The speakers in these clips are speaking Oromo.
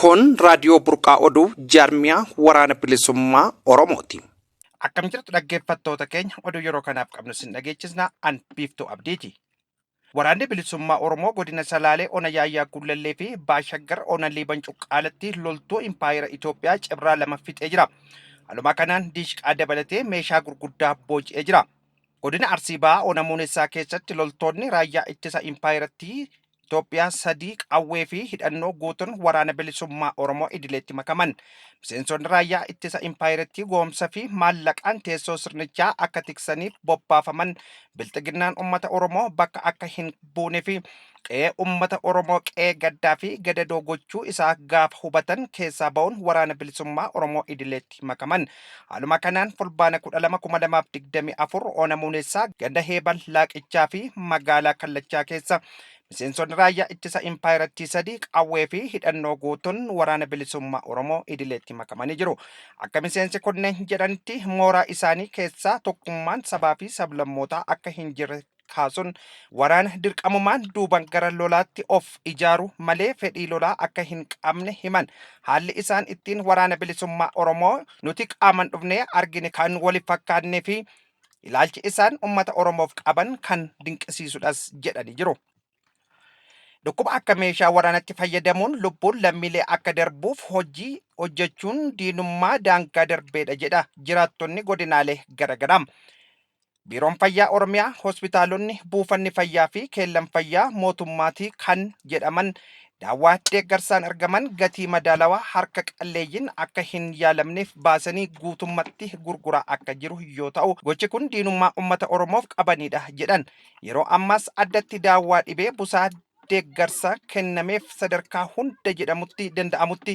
Kun raadiyoo burqaa oduu jaarmiyaa waraana bilisummaa Oromooti. Akkam jirtu dhaggeeffattoota keenya oduu yeroo kanaaf qabnu sin dhageechisna an biiftuu abdiiti. Waraanni bilisummaa Oromoo godina Salaalee ona Yaayyaa Gullallee fi Baashaggar ona Liiban Cuqqaalatti loltuu impaayera Itoophiyaa cibraa lama fixee jira. Haaluma kanaan diishqaa dabalatee meeshaa gurguddaa booji'ee jira. Godina Arsii Bahaa ona Muunessaa keessatti loltoonni raayyaa ittisa impaayerattii Itoophiyaa sadii qawwee fi hidhannoo guutuun waraana bilisummaa Oromoo idileetti makaman. Miseensonni raayyaa ittisa impaayerattii goomsa fi maallaqaan teessoo sirnichaa akka tiksaniif bobbaafaman bilxiginnaan ummata Oromoo bakka akka hin buune fi qe'ee ummata Oromoo qe'ee gaddaa fi gadadoo gochuu isaa gaafa hubatan keessaa ba'uun waraana bilisummaa Oromoo idileetti makaman. Haaluma kanaan Fulbaana 12,2024 Ona Muunessaa ganda Heebal Laaqichaa fi magaalaa Kallachaa keessa miseensonni raayyaa ittisa impaayerattii sadii qawwee fi hidhannoo guutuun waraana bilisummaa Oromoo idileetti makamanii jiru. Akka miseensi kunneen jedhanitti mooraa isaanii keessaa tokkummaan sabaa fi sablammootaa akka hin jirre kaasuun waraana dirqamumaan duuban gara lolaatti of ijaaru malee fedhii lolaa akka hin qabne himan. Haalli isaan ittiin waraana bilisummaa Oromoo nuti qaaman dhufnee argine kan wali fakkaannee fi ilaalchi isaan ummata Oromoof qaban kan dinqisiisudhas jedhanii jiru. Dhukkuba akka meeshaa waraanatti fayyadamuun lubbuun lammiilee akka darbuuf hojii hojjechuun diinummaa daangaa darbeedha jedha jiraattonni godinaalee garaagaraa. Biiroon Fayyaa Oromiyaa hospitaalonni, buufanni fayyaa fi keellan fayyaa mootummaatii kan jedhaman daawwaa deeggarsaan argaman gatii madaalawaa harka qalleeyyiin akka hin yaalamneef baasanii guutummatti gurguraa akka jiru yoo ta'u gochi kun diinummaa uummata Oromoof qabanidha jedhan Yeroo ammaas addatti daawwaa dhibee busaa deeggarsa kennameef sadarkaa hunda jedhamutti danda'amutti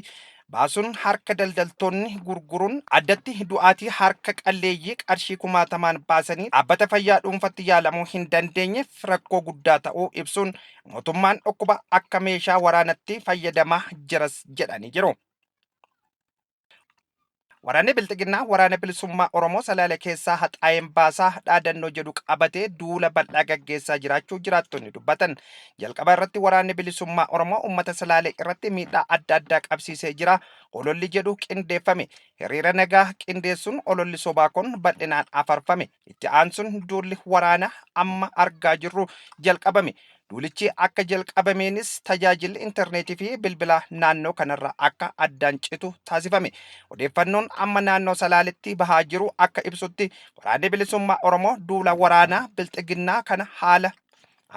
baasuun harka daldaltoonni gurguruun addatti du'aatii harka qalleeyyii qarshii kumaatamaan baasanii dhaabbata fayyaa dhuunfatti yaalamuu hin dandeenyeef rakkoo guddaa ta'uu ibsuun mootummaan dhukkuba akka meeshaa waraanatti fayyadamaa jiras jedhanii jiru. Waraanni Bilxiginnaa Waraana Bilisummaa Oromoo Salaale keessaa haxaa'een baasaa dhaadannoo jedhu qabatee duula bal'aa gaggeessaa jiraachuu jiraattonni dubbatan. Jalqaba irratti Waraanni Bilisummaa Oromoo uummata Salaalee irratti miidhaa adda addaa qabsiisee jira ololli jedhu qindeeffame. Hiriira nagaa qindeessuun ololli sobaa kun bal'inaan afarfame. Itti aansuun duulli waraanaa amma argaa jirru jalqabame. Duulichi akka jalqabameenis tajaajilli intarneetii fi bilbilaa naannoo kanarraa akka addaan citu taasifame. Odeeffannoon amma naannoo Salaaletti bahaa jiru akka ibsutti Waraanni Bilisummaa Oromoo duula waraanaa Bilxiginnaa kana haala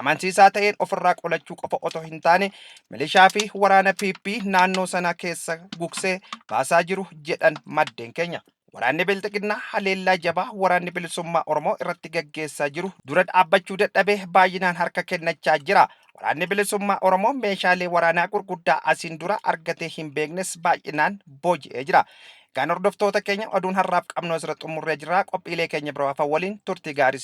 amansiisaa ta'een ofirraa qolachuu qofa otoo hin taane milishaa fi waraana PP naannoo sana keessa gugsee baasaa jiru jedhan maddeen keenya. Waraanni Bilxiginnaa haleellaa jabaa Waraanni Bilisummaa Oromoo irratti gaggeessaa jiru dura dhaabbachuu dadhabee baay'inaan harka kennachaa jira. Waraanni Bilisummaa Oromoo meeshaalee waraanaa gurguddaa asiin dura argatee hin beeknes baay'inaan booji'ee jira. Egaan hordoftoota keenya oduun har'aaf qabnu asirra xumurree jirra. Qophiilee keenya biroo hafan waliin turtii gaarii